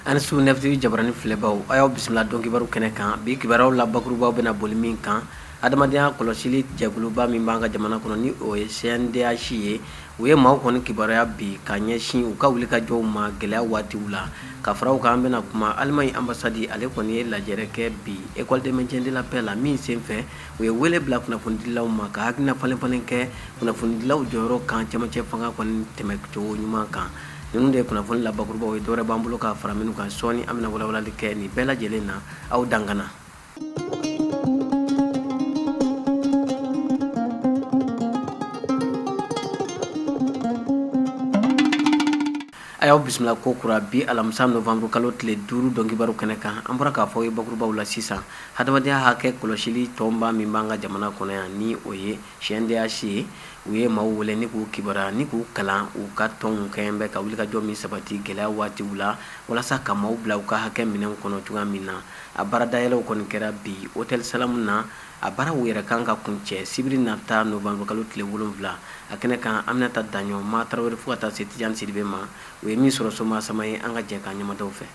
a ni su nɛfitiri jabarani filɛbaw a y'aw bisimila don kibaru kɛnɛ kan bi kibaruyaw la bakurubaw bɛna boli min kan adamadenya kɔlɔsili jɛkuluba min b'an ka jamana kɔnɔ ni o ye cndh ye u ye maaw kɔni kibaruya bi ka ɲɛsin u ka wulikajɔw ma gɛlɛya waatiw la ka fara o kan an bɛna kuma Allemagne ambassade ale kɔni ye lajɛrɛ kɛ bi école de maintien de la paix la min sen fɛ u ye wele bila kunnafonidilaw ma ka hakilina falenfalen kɛ kunnafonidilaw jɔyɔrɔ kan camancɛ fanga kɔni tɛmɛcogo ɲuman kan ninnu de ye kunnafoni la bakurubaw ye dɔwɛrɛ b'an bolo ka fara minnu kan sɔɔni an bɛna walawalali kɛ nin bɛɛ lajɛlen na aw dangana A y'aw bisimila ko kura bi alamisa novanburukalo tile duuru don kibaru kɛnɛ kan an bɔra k'a fɔ aw ye bakurubaw la sisan hadamadenya hakɛ kɔlɔsili tɔnba min b'an ka jamana kɔnɔ yan ni o ye cndh ye u ye maaw wele ni k'u kibaruya ni k'u kalan u ka tɔnw kɛɲɛ bɛ ka wulikajɔ min sabati gɛlɛya waatiw la walasa ka maaw bila u ka hakɛ minɛnw kɔnɔ cogoya min na a baara dayɛlɛw kɔni kɛra bi hôtel Salamu na a baaraw yɛrɛ kan ka kuncɛ sibiri nata novembre kalo tile wolonwula a kɛnɛ kan Aminata Daɲɔn ma Tarawele fo ka taa se Tijani Sidibe ma u ye min sɔrɔ Soma Sama ye an ka jɛ k'an ɲɛ mada u fɛ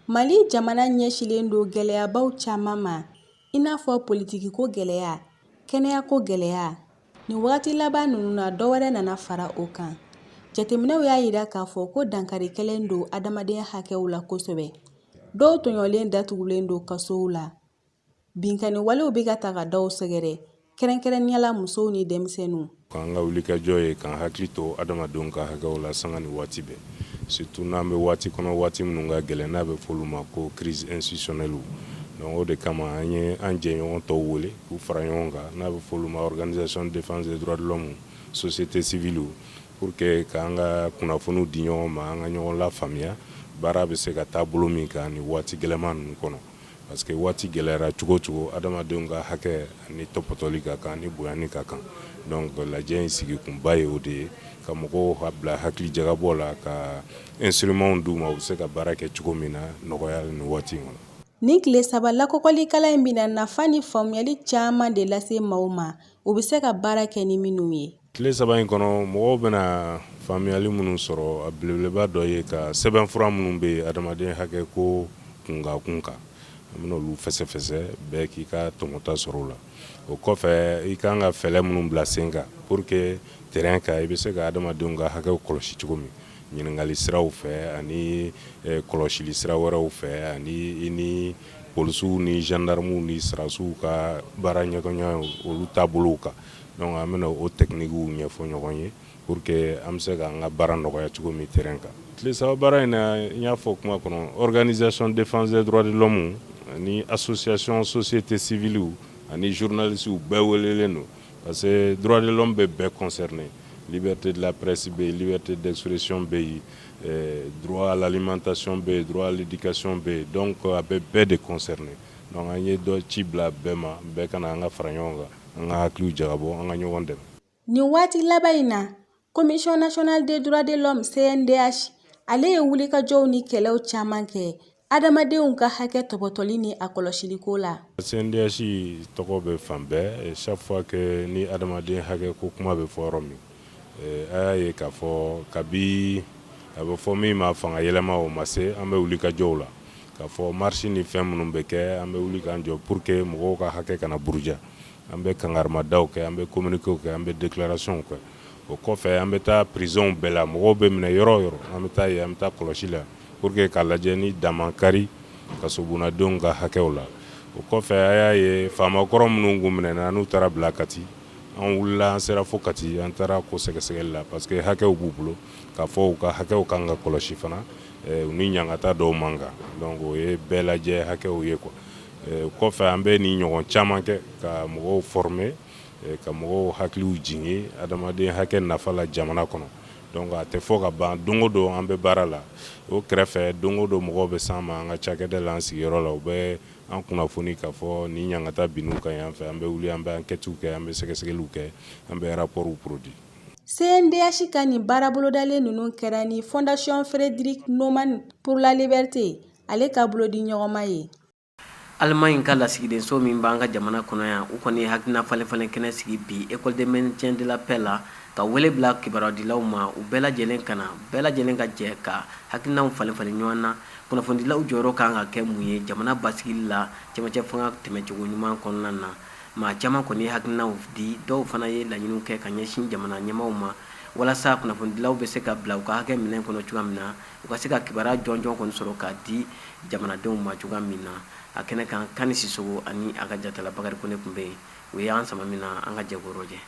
Mali jamana ɲɛsilen don gɛlɛyabaw caman ma i n'a fɔ politikiko gɛlɛya kɛnɛyako gɛlɛya Nin waati laban ninnu na dɔ wɛrɛ nana fara o kan jateminɛw y'a jira k'a fɔ ko dankari kɛlen don adamadenya hakɛw la kosɛbɛ dɔw tɔɲɔlen datugulen don kasow la binkanni walew bɛ ka taa ka dɔw sɛgɛrɛ kɛrɛnkɛrɛnnenya la musow ni denmisɛnninw k'an ka wulikajɔ ye k'an hakili to adamadenw ka hakɛw la sanga ni waati bɛɛ surtout n'an bɛ waati kɔnɔ waati minnu ka gɛlɛn n'a bɛ f'olu ma ko crise institutionnelle donc o de kama an ye an jɛɲɔgɔn tɔw wele K'u fara ɲɔgɔn kan n'a bɛ fɔ olu ma organisation de défense des droits de l'homme société civile pour que k'an ka kunnafoniw di ɲɔgɔn ma an ka ɲɔgɔn lafaamuya baara bɛ se ka taa bolo min kan nin waati gɛlɛman ninnu kɔnɔ parce que waati gɛlɛyara cogo o cogo adamadenw ka hakɛ a ni tɔpɔtɔli ka kan a ni bonyani ka kan donc lajɛ in sigi kunba ye o de ye ka mɔgɔw bila hakili jagabɔ la ka instruments d'u ma u bɛ se ka baara kɛ cogo min na nɔgɔya nin waati in kɔnɔ. Nin tile saba lakɔlikalan in bɛna nafa ni faamuyali caman de lase maaw ma u bɛ se ka baara kɛ ni minnu ye tile saba in kɔnɔ mɔgɔw bɛna faamuyali minnu sɔrɔ a belebeleba dɔ ye ka sɛbɛnfura minnu bɛ yen adamaden hakɛ ko kunkan kun kan an bɛna olu fɛsɛfɛsɛ bɛɛ k'i ka tɔmɔta sɔrɔ o la o kɔfɛ i ka kan ka fɛɛrɛ minnu bila sen kan pour que terrain kan i bɛ se ka adamadenw ka hakɛ kɔlɔsi cogo min ɲininkali siraw fɛ ani eh, kɔlɔsili sira wɛrɛw fɛ ani i ni polisiw ni gendarmew ni sɔrɔdasiw ka baaraɲɔgɔnya olu taabolow kan donc an bɛna o tɛkinikiw ɲɛfɔ ɲɔgɔn ye pour que an bɛ se k'an ka baara nɔgɔya cogo min terrain kan tile saba baara in na n y'a fɔ kuma kɔnɔ organisation défense des droits de l'homme ani association société civiliw ani journalistew bɛɛ welelen don Parce que dɔgɔninlɔn bɛ bɛɛ kɔnsɛrinen bɛ te lapresi bɛ yen bɛ te daurresiyɔn bɛ yen dugalalimatacyɔn bɛ yen dugwalikasiɔn bɛ yen dɔn kɔ a bɛ bɛɛ de kɔnsɛrinen nka an ye dɔ ci bila bɛɛ ma bɛɛ ka an ka fara ɲɔgɔn kan an ka hakili jabɔ an ka ɲɔgɔn dɛmɛ nin waati laban in na Commission nationale des droits de l'homme CNDH ale ye wulikajɔw ni kɛlɛw caman kɛ adamadenw ka hakɛ tɔbɔtɔli ni a kɔlɔsiliko la. CNDH tɔgɔ bɛ fan bɛɛ chaque fois que ni adamaden hakɛ ko kuma bɛ fɔ yɔrɔ min eh, a y'a ye k'a fɔ kabi a bɛ fɔ min ma fanga yɛlɛma o ma se an bɛ wulikajɔw la k'a fɔ marche ni fɛn minnu bɛ kɛ an bɛ wuli k'an jɔ pour que mɔgɔw ka hakɛ kana buruja an bɛ kankarimadaw kɛ an bɛ communiquéw kɛ an bɛ déclaration kɛ o kɔfɛ an bɛ taa prisonw bɛɛ la mɔgɔw bɛ minɛ yɔrɔ o yɔrɔ an bɛ taa yen an bɛ taa kɔlɔsi la pour que k'a lajɛ ni dan ma kari kasobonnadenw ka hakɛw la o kɔfɛ a y'a ye faama kɔrɔ minnu tun minɛna n'u taara bila Kati an wulila an sera fo Kati an taara ko sɛgɛsɛgɛli la parce que hakɛw b'u bolo k'a fɔ u ka hakɛw ka kan ka kɔlɔsi fana u ni ɲangata dɔw man kan o ye bɛɛ lajɛ hakɛw ye quoi O kɔfɛ an bɛ nin ɲɔgɔn caman kɛ ka mɔgɔw former eh, ka mɔgɔw hakiliw jigin adamaden hakɛ nafa la jamana kɔnɔ donc a tɛ fɔ ka ban don o don an bɛ baara la o kɛrɛfɛ don o don mɔgɔw bɛ s'an ma an ka cakɛda la an sigiyɔrɔ la u bɛ an kunnafoni k'a fɔ nin ɲangata binn'u kan yan fɛ an bɛ wuli an bɛ ankɛtiw kɛ an bɛ sɛgɛsɛgɛliw kɛ an bɛ rapportw produit CNDH ka nin baara bolodalen ninnu kɛra ni Fondation Friedrich Naumann pour la liberté ale ka bolodiɲɔgɔnma ye Alimaɲi ka lasigidenso min b'an ka jamana kɔnɔ yan u kɔni ye hakilina falenfalen kɛnɛ sigi bi école de maintien de la paix la ka wele bila kibarudilaw ma u bɛɛ lajɛlen ka na bɛɛ lajɛlen ka jɛ ka hakilinaw falenfalen ɲɔgɔn na kunnafonidilaw jɔyɔrɔ kan ka kɛ mun ye jamana basigili la cɛmancɛ fanga tɛmɛcogo ɲuman kɔnɔna na maa caman kɔni ye hakilinaw di dɔw fana ye laɲiniw kɛ ka ɲɛsin jamana ɲɛmaaw ma walasa kunnafonidilaw bɛ se ka bila u ka hakɛ minɛn kɔnɔ cogoya min na u ka se ka kibaruya jɔnjɔn kɔni sɔrɔ k'a di jamanadenw ma cogoya min na a kɛnɛ kan Kani Sisɔkɔ ani a ka jatala Bakarijan Kɔnɛ tun bɛ yen u ye an sama min na an ka jɛ k'o lajɛ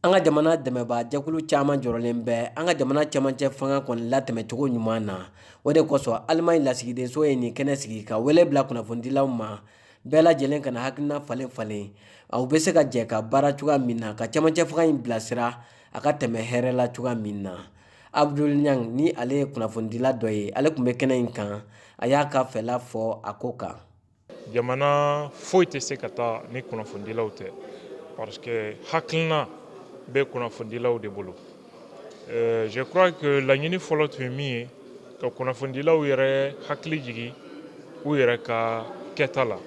an ka jamana dɛmɛbaa jɛkulu caman jɔrɔlen bɛ an ka jamana cɛmancɛ fanga kɔni latɛmɛcogo ɲuman na o de kosɔn Alimaɲi lasigidenso ye nin kɛnɛ sigi ka wele bila kunnafonidilaw ma bɛɛ lajɛlen ka na hakilina falenfalen u bɛ se ka jɛ ka baara cogoya min na ka cɛmancɛ fanga in bilasira a ka tɛmɛ hɛrɛ la cogoya min na abdul ɲang ni ale ye kunnafonidila dɔ ye ale tun bɛ kɛnɛ in kan a y'a ka fɛla fɔ a ko kan jamana foyi tɛ se ka taa ni kunnafonidilaw tɛ parce que hakilina bɛ kunnafonidilaw de bolo euh, je crois que laɲini fɔlɔ tun ye min ye ka kunnafonidilaw yɛrɛ hakili jigin u yɛrɛ ka kɛta la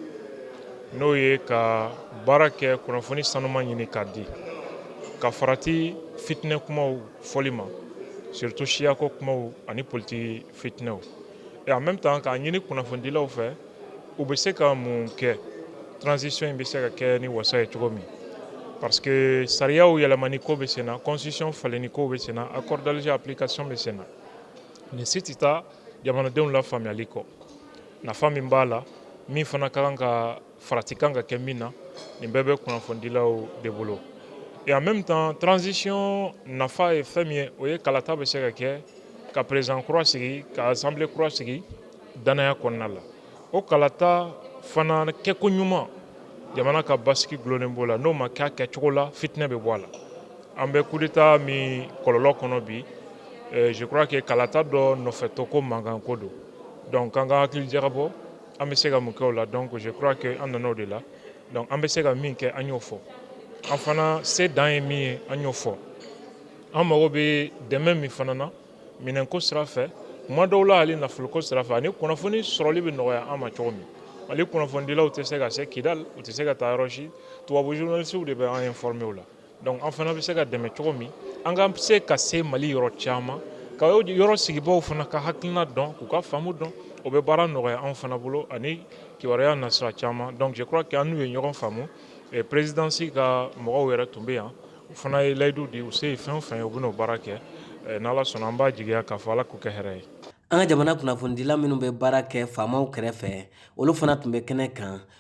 n'o ye ka baara kɛ kunnafoni sanuma ɲini k'a di ka farati fitinɛ kumaw fɔli ma surtout siyako kumaw ani politiki fitinɛw et en même temps k'a ɲini kunnafonidilaw fɛ u bɛ se ka mun kɛ transition in bɛ se ka kɛ ni wasa ye cogo min parce que sariyaw yɛlɛmani ko bɛ senna constitution falenni ko bɛ senna accord d'Alger application bɛ senna nin si tɛ taa jamanadenw la faamuyali kɔ nafa min b'a la min fana ka kan ka Farati kan ka kɛ min na nin bɛɛ bɛ kunnafonidilaw de bolo et en même temps transition nafa ye fɛn min ye o ye kalata bɛ se ka kɛ ka président kura sigi ka assemblée kura sigi dannaya kɔnɔna la o kalata fana kɛko ɲuman jamana ka basigi dulonnen b'o la n'o ma kɛ a kɛcogo la fitinɛ bɛ bɔ a la an bɛ coup d'état min kɔlɔlɔ kɔnɔ bi je crois que kalata dɔ nɔfɛtɔ ko mankanko don donc an ka hakili jagabɔ An bɛ se ka mun kɛ o la donc je crois que an nana o de la donc an bɛ se ka min kɛ an y'o fɔ an fana se dan ye min ye an y'o fɔ an mago bɛ dɛmɛ min fana na minɛnko sira fɛ kuma dɔw la hali nafoloko sira fɛ ani kunnafoni sɔrɔli bɛ nɔgɔya an ma cogo min mali kunnafonidilaw tɛ se ka se kidal u tɛ se ka taa yɔrɔ si tubabu journalistes de bɛ an informer o la Donc an fana bɛ se ka dɛmɛ cogo min an ka se ka se Mali yɔrɔ caman ka yɔrɔ sigibaaw fana ka hakilina dɔn k'u ka faamu dɔn o bɛ baara nɔgɔya anw fana bolo ani kibaruya nasira caman donc je crois que an n'u ye ɲɔgɔn faamu présidence ka mɔgɔw yɛrɛ tun bɛ yan u fana ye layidu di u se ye fɛn o fɛn ye u bɛna o baara kɛ n'Ala sɔnna an b'a jigiya k'a fɔ Ala k'u kɛ hɛrɛ ye. An ka jamana kunnafonidila minnu bɛ baara kɛ faamaw kɛrɛfɛ olu fana tun bɛ kɛnɛ kan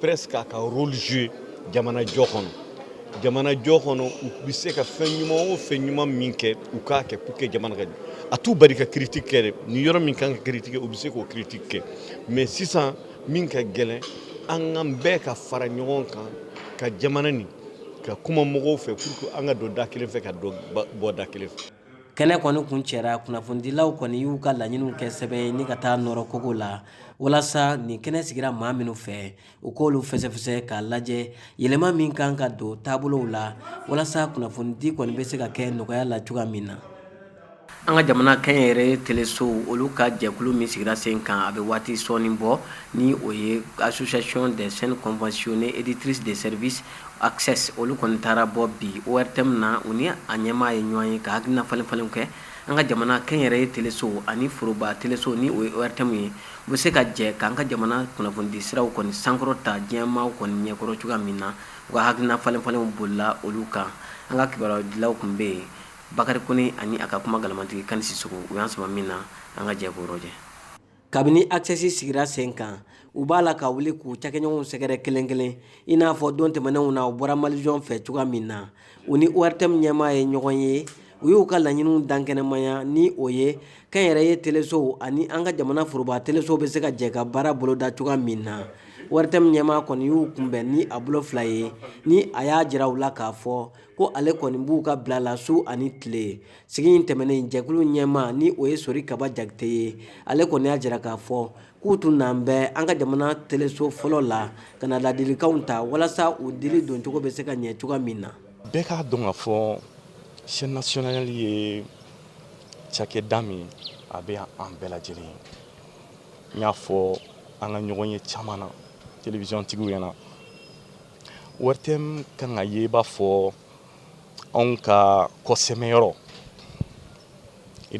presse k'a ka rôle jouer jamana jɔ kɔnɔ jamana jɔ kɔnɔ u bɛ se ka fɛn ɲuman o fɛn ɲuman min kɛ u k'a kɛ pour que jamana ka ɲɛ a t'u bali ka critique kɛ dɛ ni yɔrɔ min kan ka critique u bɛ se k'o critique kɛ mais sisan min ka gɛlɛn an ka bɛɛ ka fara ɲɔgɔn kan ka jamana nin ka kuma mɔgɔw fɛ pour que an ka don da kelen fɛ ka dɔ bɔ da kelen fɛ kɛnɛ kɔni kuncɛra kunnafonidilaw kɔni y'u ka laɲiniw kɛ sɛbɛn ye ni ka taa nɔrɔ kogo la walasa nin kɛnɛ sigira maa minnu fɛ u k'olu fɛsɛfɛsɛ k'a lajɛ yɛlɛma min kan ka don taabolow la walasa kunnafonidi kɔni bɛ se ka kɛ nɔgɔya la cogoya min na an ka jamana kɛnyɛrɛye telesow olu ka jɛkulu min sigira sen kan a bɛ waati sɔɔni bɔ ni o ye association des chaînes conventionnées éditrices de services Access olu kɔni taara bɔ bi ORTM na u ni a ɲɛmaa ye ɲɔgɔn ye ka hakilina falen falenw kɛ an ka jamana kɛnyɛrɛye telesow ani foroba telesow ni o ye ORTM ye u bɛ se ka jɛ k'an ka jamana kunnafonidi siraw kɔni sankɔrɔta diɲɛ maaw kɔni ɲɛkɔrɔ cogoya min na u ka hakilina falen falenw bolila olu kan an ka kibarudilaw tun bɛ yen Bakari Kone ani a ka kuma galamantigi Kani Sisoko u y'an sama min na an ka jɛ k'o rɔjɛ. kabini Access sigira sen kan u b'a la ka wuli k'u cakɛɲɔgɔnw sɛgɛrɛ kelen kelen i n'a fɔ don tɛmɛnenw na u bɔra Malivision fɛ cogoya min na u ni ORTM ɲɛmaa ye ɲɔgɔn ye u y'u ka laɲiniw dankɛnɛmaya ni o ye kɛnyɛrɛye telesow ani an ka jamana foroba telesow bɛ se ka jɛ ka baara boloda cogoya min na ORTM ɲɛmaa kɔni y'u kunbɛn ni a bolo fila ye ni a y'a jira u la k'a fɔ ko ale kɔni b'u ka bila la su ani tile sigi in tɛmɛnen jɛkulu ɲɛmaa ni o ye sori kaba jakite ye ale kɔni y'a jira k'a fɔ k'u tun nan bɛ an ka jamana teleso fɔlɔ la ka na ladilikanw ta walasa u dili doncogo bɛ se ka ɲɛ cogoya min na bɛɛ k'a dɔn k'a fɔ chaîne nationale ye cakɛda min a bɛ an bɛɛ lajɛlen ye n y'a fɔ an ka ɲɔgɔn ye caman na telewisiyɔntigiw ɲɛna ORTM kan ka ye i b'a fɔ anw ka kɔsɛmɛyɔrɔ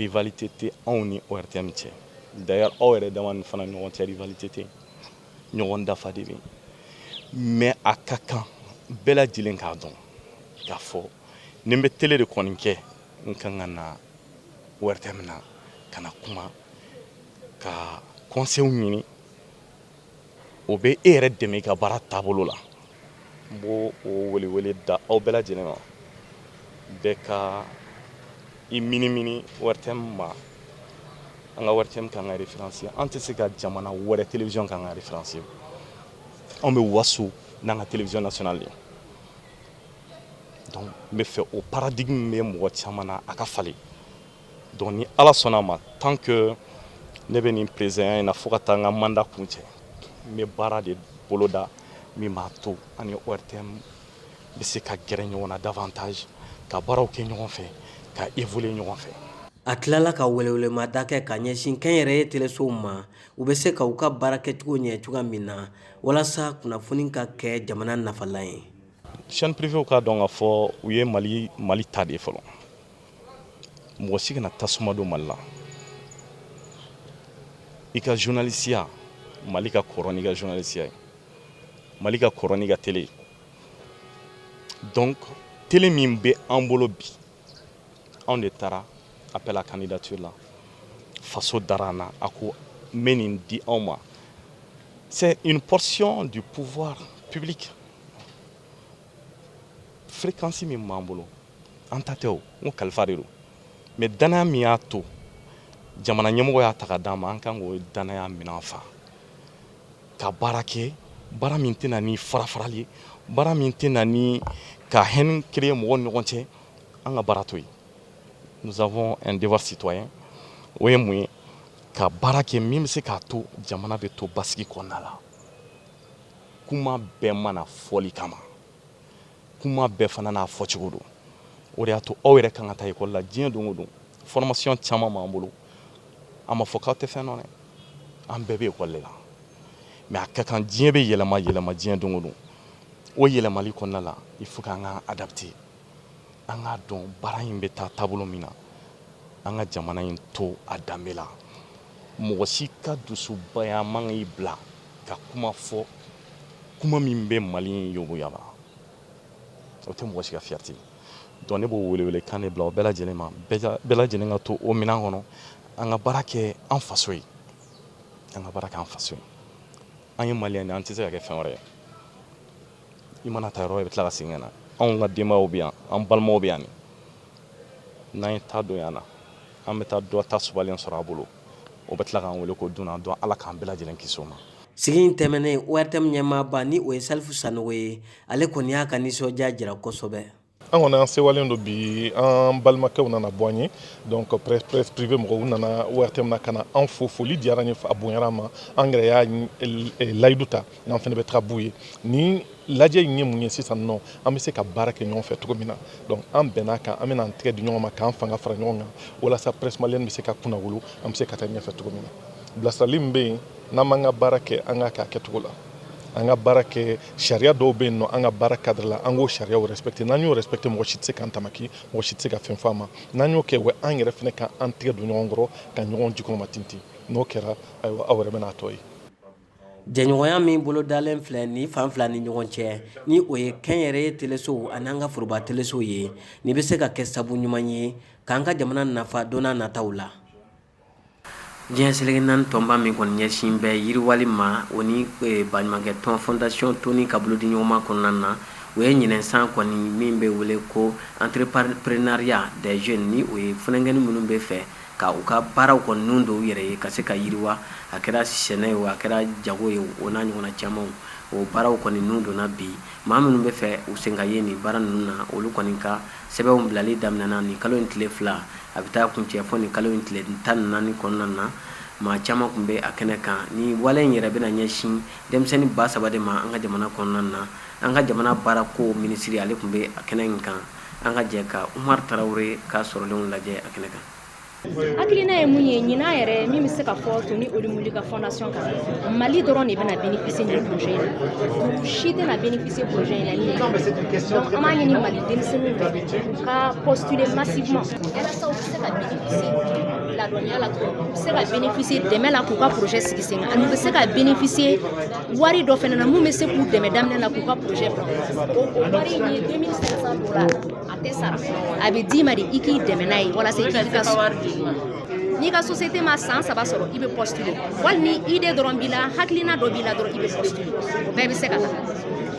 rivalité tɛ anw ni ORTM cɛ d'ailleurs aw yɛrɛ dama ni fana ɲɔgɔn cɛ rivalité tɛ ɲɔgɔn dafa de bɛ yen mais a ka kan bɛɛ lajɛlen k'a dɔn k'a fɔ ni n bɛ télé de kɔni kɛ n kan ka na ORTM na ka na kuma ka conseils ɲini o bɛ e yɛrɛ dɛmɛ i ka baara taabolo la n b' o welewele da aw bɛɛ lajɛlen ma bɛɛ ka i minimini ORTM ma an ka ORTM k'an ka référence an tɛ se ka jamana wɛrɛ télévision k'an ka référence anw bɛ waso n'an ka télévision nationale ye donc n bɛ fɛ o paradigme bɛ mɔgɔ caman na a ka falen Donc ni ala sɔnna a ma tant que ne bɛ nin peresidanya in na fo ka taa n ka mandat kuncɛ n bɛ baara de boloda min b'a to an ni ORTM bɛ se ka gɛrɛ ɲɔgɔn na davantage ka baaraw kɛ ɲɔgɔn fɛ ka évoluer ɲɔgɔn fɛ. A tilala ka welewelemada kɛ ka ɲɛsin kɛnyɛrɛye telesow ma u bɛ se ka u ka baara kɛcogo ɲɛ cogoya min na walasa kunnafoni ka kɛ jamana nafalan ye. Chaîne privéew k'a dɔn k'a fɔ u ye Mali ta de ye fɔlɔ. mɔgɔ si kana tasuma don mali la i ka journalisiya mali ka kɔrɔ n'i ka journalisiya ye mali ka kɔrɔ n'i ka tele ye donc tele min bɛ an bolo bi anw de taara appel à candidature la faso dara an na a ko n bɛ nin di aw ma c'est une portion du pouvoir public fréquence min b'an bolo an ta tɛ o n ko kalifa de don mais danaya min y'a to jamana ɲɛmɔgɔ y'a ta ka d'an ma an kan k'o danaya minɛn fa ka baara kɛ baara min tɛ na ni farafarali ye baara min tɛ na ni ka haine créer mɔgɔw ni ɲɔgɔn cɛ an ka baara to yen nous avons un devoir citoyen o ye mun ye ka baara kɛ min bɛ se k'a to jamana bɛ to basigi kɔnɔna la kuma bɛɛ ma na fɔli kama kuma bɛɛ fana n'a fɔcogo don o de y'a to aw yɛrɛ kan ka taa école la diɲɛ don o don formation caman b'an bolo a ma fɔ k'aw tɛ fɛn dɔn dɛ an bɛɛ bɛ école de la mais a ka kan diɲɛ bɛ yɛlɛma yɛlɛma diɲɛ don o don o yɛlɛmali kɔnɔna la il faut k'an ka adapter an k'a dɔn baara in bɛ taa taabolo min na an ka jamana in to a danbe la mɔgɔ si ka dusubaya man k'i bila ka kuma fɔ kuma min bɛ mali in yogoba o tɛ mɔgɔ si ka fierté donc ne b'o welewele kan de bila o bɛɛ lajɛlen ma bɛɛ lajɛlen ka to o minɛn kɔnɔ an ka baara kɛ an faso ye an ka baara kɛ an faso ye an ye malien de an tɛ se ka kɛ fɛn wɛrɛ ye i mana taa yɔrɔ i bɛ tila ka segin ka na anw ka denbayaw bɛ yan an balimaw bɛ yan n'an ye ta don yan na an bɛ taa dɔ ta sumalen sɔrɔ a bolo o bɛ tila k'an weele ko dunan donc ala k'an bɛɛ lajɛlen kisi o ma sigi in tɛmɛnen ortm ɲɛmaaba ni o ye salifu sanogo ye ale kɔni y'a ka nisɔndiya jira kosɛbɛ an kɔni an sewalen don bi an balimakɛw nana bɔ an ye donc presse privée mɔgɔw nana ortm na ka na an fo foli diyara an ye a bonyara an ma an yɛrɛ y'a layidu ta n'an fana bɛ taga b'u ye nin lajɛ in ye mun ye sisan nɔ an bɛ se ka baara kɛ ɲɔgɔn fɛ cogo min na donc an bɛn'a kan an bɛna an tɛgɛ di ɲɔgɔn ma k'an fanga fara ɲɔgɔn kan walasa presse malienne bɛ se ka kunnawolo an bɛ se ka taa ɲɛfɛ cogo min na bilasirali min bɛ yen n'an b'an ka baara kɛ an k'a kɛ a kɛcogo la an ka baara kɛ sariya dɔw bɛ yen nɔ an ka baara cadre la an k'o sariyaw respecter n'an y'o respecter mɔgɔ si tɛ se k'an tamaki mɔgɔ si tɛ se ka fɛn fɔ an ma n'an y'o kɛ wa an yɛrɛ fana ka an tɛgɛ don ɲɔgɔn kɔrɔ ka ɲɔgɔn jukɔrɔmatintin n'o kɛra ayiwa aw yɛrɛ bɛna a tɔ ye jɛɲɔgɔnya min bolo dalen filɛ nin fan fila ni ɲɔgɔn cɛ ni o ye kɛnyɛrɛye telesow ani an ka foroba telesow ye nin bɛ se ka kɛ sabu ɲuman ye k'an ka jamana nafa don nataw la diɲɛ seleke naani tɔnba min kɔni ɲɛsin bɛ yiriwali ma o ni baɲumankɛtɔn fondation Toni ka bolodiɲɔgɔnma kɔnɔna na u ye ɲinan san kɔni min bɛ wele ko entrepreneuriat des jeunes ni o ye funankɛninw minnu bɛ fɛ ka u ka baaraw kɔni ninnu don u yɛrɛ ye ka se ka yiriwa a kɛra sɛnɛ ye a kɛra jago ye o n'a ɲɔgɔn camanw o baaraw kɔni ninnu donna bi maa minnu bɛ fɛ u sen ka ye nin baara ninnu na olu kɔni ka sɛbɛnw bilali daminɛna nin kalo in tile fila a bɛ taa kuncɛ fɔ nin kalo in tile tan ni naani kɔnɔna na maa caman kun bɛ a kɛnɛ kan ni wale in yɛrɛ bɛna ɲɛsin denmisɛnnin ba saba de ma an ka jamana kɔnɔna na an ka jamana baarako minisiri ale kun bɛ a kɛnɛ in kan an ka jɛ ka Umaru Tarawele ka sɔrɔlenw lajɛ a kɛnɛ kan. Hakilina ye mun ye ɲinan yɛrɛ min bɛ se ka fɔ Toni Elumelu ka fondation kan Mali dɔrɔn de bɛna bénéficier nin projet in na u si tɛna bénéficier projet in na ni ɲinan tɛ donc an b'a ɲini Mali denmisɛnninw fɛ u ka postuler massivement walasa u bɛ se ka bénéficier ladɔnniya la cogo min u bɛ se ka bénéficier dɛmɛ la k'u ka projet sigi sen kan ani u bɛ se ka bénéficier wari dɔ fana na mun bɛ se k'u dɛmɛ daminɛ la k'u ka projet bila o wari in ye 2500 dola a tɛ sara a bɛ d'i ma de i k'i dɛmɛ n'a ye walasa i k'i ka n'i ka société ma san saba sɔrɔ i bɛ postuler wali ni idée dɔrɔn b'i la hakilina dɔ b'i la dɔrɔn i bɛ postuler o bɛɛ bɛ se ka ta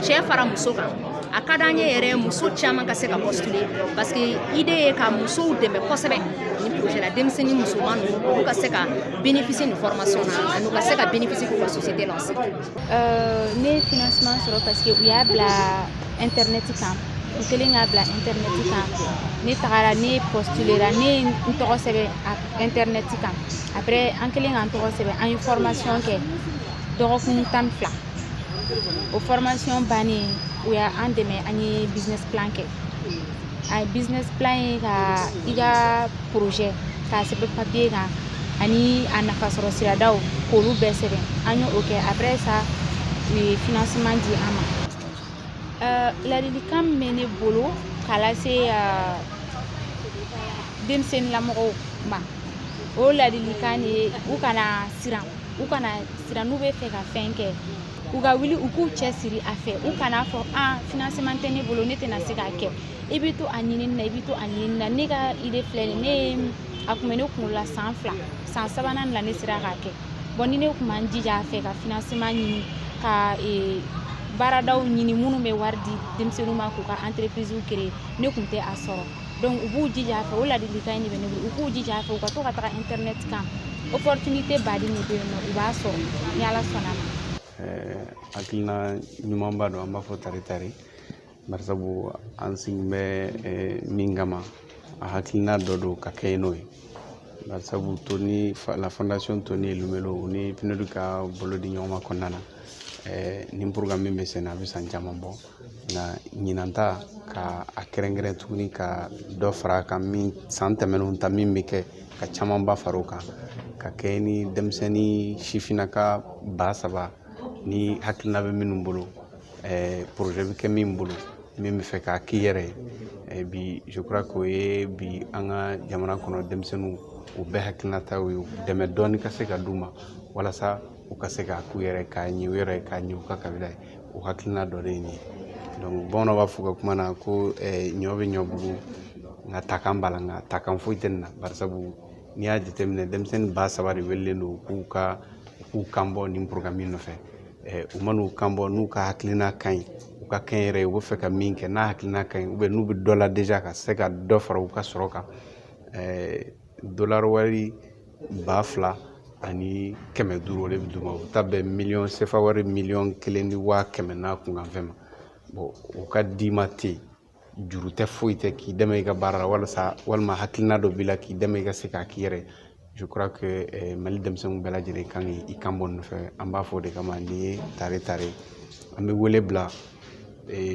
cɛ fara muso kan a ka d'an ye yɛrɛ muso caman ka se ka postuler parce que idée ye ka musow dɛmɛ kosɛbɛ nin projet la denmisɛnnin musoman ninnu olu ka se ka bénéficier nin formation na ani u ka se ka bénéficier k'u ka société lancer euh, ne ye financement sɔrɔ parce que u y'a bila internet kan u kɛlen k'a bila internet kan ne tagara ne postulera ne ye n tɔgɔ sɛbɛn internet kan après an kɛlen k'an tɔgɔ sɛbɛn an ye formation kɛ dɔgɔkun tan ni fila o formation bannen u y'an dɛmɛ an ye business plan kɛ a ye business plan ye ka i ka projet k'a sɛbɛn papier kan ani a nafasɔrɔ siradaw k'olu bɛɛ sɛbɛn an y'o kɛ après ça u ye financement di an ma euh, ladilikan min bɛ ne bolo k'a lase euh, denmisɛnninlamɔgɔw ma o ladilikan de ye u kana siran u kana siran n'u bɛ fɛ ka fɛn kɛ u ka wuli u k'u cɛ siri a fɛ u kana fɔ a financement tɛ ne bolo ne tɛna se k'a kɛ i bɛ to a ɲinini na i bɛ to a ɲinini na ne ka idée filɛ nin a kun bɛ ne kunkolo la san fila san sabanan la ne sera k'a kɛ bon ni ne kun ma n jija a fɛ ka financement ɲini ka ee baaradaw ɲini minnu bɛ wari di denmisɛnninw ma k'u ka entreprise créer ne kun tɛ a sɔrɔ donc u b'u jija a fɛ o ladilikan in de bɛ ne bolo u k'u jija a fɛ u ka to ka taga internet kan opportunité ba de bɛ yen nɔ u b'a sɔrɔ ni ala sɔnna a ma hakilina ɲumanba don an b'a fɔ tare tare barisabu an sigi bɛ min kama a hakilina dɔ don ka kɛ n'o ye barisabu tony la fondation tony elumelu u ni pnud ka bolo di ɲɔgɔn ma kɔnɔna na nin programme min bɛ sen na a bɛ san caman bɔ nka ɲinan ta ka a kɛrɛnkɛrɛn tuguni ka dɔ fara a kan min san tɛmɛnenw ta min bɛ kɛ ka camanba fara o kan ka kɛ ni denmisɛnnin sifinnaka ba saba ni hakilina bɛ minnu bolo projet bɛ kɛ min bolo min bɛ fɛ k'a k'i yɛrɛ ye bi je crois k'o ye bi an ka jamana kɔnɔ denmisɛnninw u bɛɛ hakilinataw ye dɛmɛ dɔɔni ka se ka d'u ma walasa u ka se k'a k'u yɛrɛ k'a ɲɛ u yɛrɛ k'a ɲɛ u ka kabila ye o hakilina dɔ de ye nin ye bamananw b'a fɔ u ka kuma na ko ɲɔ bɛ ɲɔ bugu nka takan b'a la nka takan foyi tɛ nin na barisabu n'i y'a jateminɛ denmisɛnnin ba saba de welelen don k'u ka k'u kan bɔ nin programme in nɔfɛ u man'u kan bɔ n'u ka hakilina ka ɲi u ka kɛnyɛrɛye u bɛ fɛ ka min kɛ n'a hakilina ka ɲi n'u bɛ dɔ la ka se ka dɔ fara u ka sɔrɔ kan ba fila ani kɛmɛ duuru o de bɛ d'u ma u ta bɛn miliyɔn sefa wari miliyɔn kelen ni waa kɛmɛ n'a kunkanfɛn ma o ka d'i ma ten juru tɛ foyi tɛ k'i dɛmɛ i ka baara la walasa walima hakilina dɔ b'i la k'i dɛmɛ i ka se k'a k'i yɛrɛ ye mali denmisɛnninw bɛɛ lajɛlen ka kan k'i kan bɔ nin fɛ an b'a fɔ o de kama nin ye tare tare an bɛ wele bila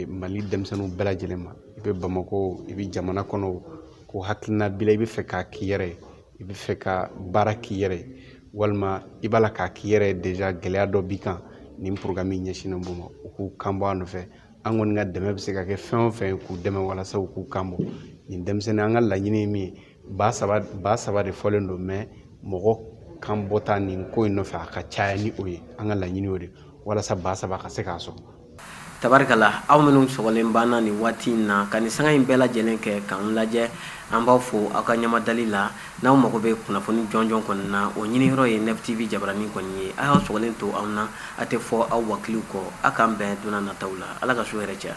mali denmisɛnninw bɛɛ lajɛlen ma i bɛ bamakɔ i bɛ jamana kɔnɔ ko hakilina b'i la i bɛ fɛ k'a k'i yɛrɛ ye i bɛ fɛ ka baara k'i yɛrɛ ye walima i b'a la k'a k'i yɛrɛ ye déjà gɛlɛya dɔ b'i kan nin programme in ɲɛsinnen b'o ma u k'u kan bɔ a nɔfɛ an kɔni ka dɛmɛ bɛ se ka kɛ fɛn o fɛn k'u dɛmɛ walasa u k'u kan bɔ nin denmisɛnnin an ka laɲini ye min ye ba saba ba saba de fɔlen don mais mɔgɔ kan bɔta nin ko in nɔfɛ a ka caya ni o ye an ka laɲini o de walasa ba saba ka se k'a sɔrɔ tabarikala aw minnu sɔgɔlen b'an na nin waati in na ka nin sanga in bɛɛ lajɛlen kɛ k'an lajɛ an b'aw fo aw ka ɲamadali la n'aw mago bɛ kunnafoni jɔnjɔn kɔni na o ɲiniyɔrɔ ye nef tv jabaranin kɔni ye a y'aw sɔgɔlen to an na a tɛ fɔ aw wakiliw kɔ a k'an bɛn don nataw la ala ka su hɛrɛ caya